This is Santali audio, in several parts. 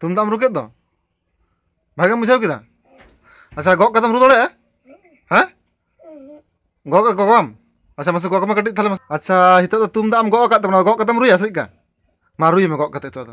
ᱛᱩᱢᱫᱟᱜ ᱮᱢ ᱨᱩ ᱠᱮᱫ ᱫᱚ ᱵᱷᱟᱜᱮᱢ ᱵᱩᱡᱷᱟᱹᱣ ᱠᱮᱫᱟ ᱟᱪᱪᱷᱟ ᱜᱚᱜ ᱠᱟᱛᱮᱢ ᱨᱩ ᱫᱟᱲᱮᱭᱟᱜᱼᱟ ᱦᱮᱸ ᱜᱚᱜ ᱜᱚᱜᱟᱢ ᱟᱪᱪᱷᱟ ᱢᱟᱥᱮ ᱜᱚᱜ ᱢᱮ ᱠᱟᱹᱴᱤᱡ ᱛᱟᱦᱞᱮ ᱟᱪᱪᱷᱟ ᱱᱤᱛᱚᱜ ᱫᱚ ᱛᱩᱢᱫᱟᱜ ᱮᱢ ᱜᱚᱜ ᱟᱠᱟᱫ ᱛᱟᱵᱚᱱᱟ ᱜᱚᱜ ᱠᱟᱛᱮᱢ ᱨᱩᱭᱟ ᱪᱮᱫᱠᱟ ᱢᱟ ᱨᱩᱭ ᱢᱮ ᱜᱚᱜ ᱠᱟᱛᱮ ᱱᱤᱛᱚᱜ ᱫᱚ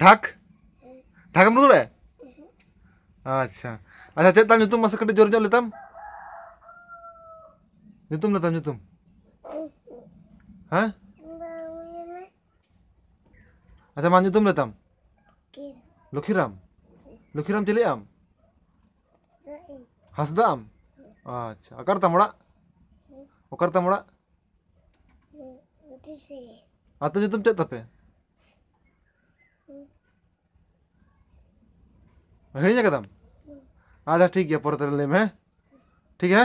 ঢাক ঢাকেᱢ ᱨᱩ ᱫᱟᱲᱮᱭᱟᱜᱼᱟ ᱟᱪᱪᱷᱟ ᱟᱪᱪᱷᱟ ᱪᱮᱫ ᱛᱟᱢ ᱧᱩᱛᱩᱢ ᱢᱟᱥᱮ ᱠᱟᱹᱴᱤᱡ ᱡᱳᱨ ᱧᱚᱜ ᱞᱮᱛᱟᱢ ᱧᱩᱛᱩᱢ ᱞᱮᱛᱟᱢ ᱧᱩᱛᱩᱢ ᱦᱮᱸ ᱟᱪᱪᱷᱟ ᱢᱟ ᱧᱩᱛᱩᱢ ᱞᱮᱛᱟᱢ ᱞᱚᱠᱷᱤᱨᱟᱢ ᱞᱚᱠᱷᱤᱨᱟᱢ ᱪᱤᱞᱤ ᱟᱢ ᱦᱟᱸᱥᱫᱟ ᱟᱢ ᱟᱪᱪᱷᱟ ᱚᱠᱟᱨᱮ ᱛᱟᱢ ᱚᱲᱟᱜ ᱚᱠᱟᱨᱮ ᱛᱟᱢ ᱚᱲᱟᱜ ᱟᱛᱳ ᱧᱩᱛᱩᱢ ᱪᱮᱫ ᱛᱟᱯᱮ ᱦᱤᱲᱤᱧ ᱟᱠᱟᱫᱟᱢ ᱟᱪᱪᱷᱟ ᱴᱷᱤᱠ ᱜᱮᱭᱟ ᱯᱚᱨᱮ ᱛᱮᱞᱮ ᱞᱟᱹᱭᱟᱢᱟ ᱦᱮᱸ ᱴᱷᱤᱠ ᱜᱮᱭᱟ